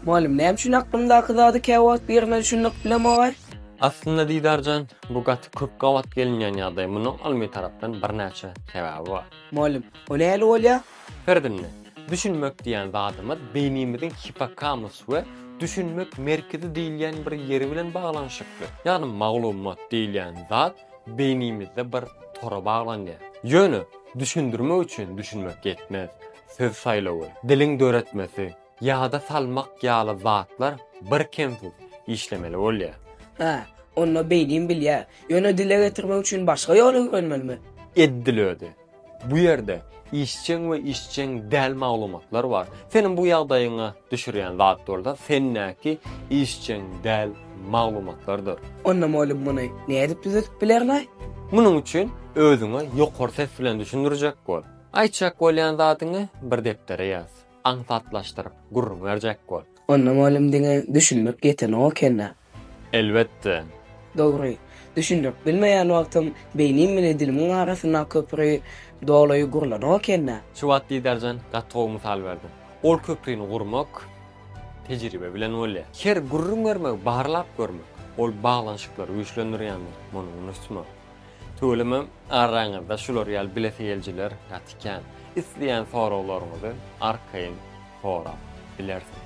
Mugallym, näme üçin aklymdaky zady käwagt birine düşündirip bilemogaý? Aslynda Didar jan, bu gaty köp gabat gelinýän ýagdaý, munuň ylmy tarapdan birnäçe sebäbi bar. Mugallym, o nähili bolýar? Ferdinne, düşünmek diýýän zadymyz beýnimiziň hipokamus we düşünmek merkezi diýilýän bir ýeri bilen baglanyşykly. Ýagny maglumat diýilýän zat beýnimizde bir tora baglanýar. Ýöne düşündirmek üçin düşünmek ýetmez, söz saýlawy, diliň döretmesi, Ýada salmak ýaly zatlar birkemsiz işlemeli bolýar. Hä, onda beýdýän bilýär. Ýöne dile getirmek üçin başga ýol öwrenmelimi? Edil özi. Bu ýerde işjeň we işjeň däl maglumatlar bar. Seniň bu ýagdaýyňa düşürýän zat bolsa sendäki işjeň däl maglumatlardyr. Onda mugallym muny nädip düzedip bilerlaý? Munuň üçin özüňe ýokary ses bilen düşündirjek bol. Aýtjak bolýan zadyňy bir depdere ýaz. aňsatlaşdyryp gürrüň berjek bol. Onda mugallym diňe düşündirip geçenok ekendä? Elbetde. Dogry. Düşündirip bilmeýän wagtym beýnim bilen dilimiň arasyndaky köpri doly gurlanok ekendä? Şu wagt Didarjan gaty gowy mysal berdi. Ol köprini gurmak tejribe bilen bolýar. Her gürrüň bermegi barlap görmek, ol baglanyşyklary güýçlendirýändir. Muny unutma. Tüweleme araňyzda şular ýaly bilesigelijiler gaty kän. Isleýän soraglaryňyzy arkaýyn sorap bilersiňiz.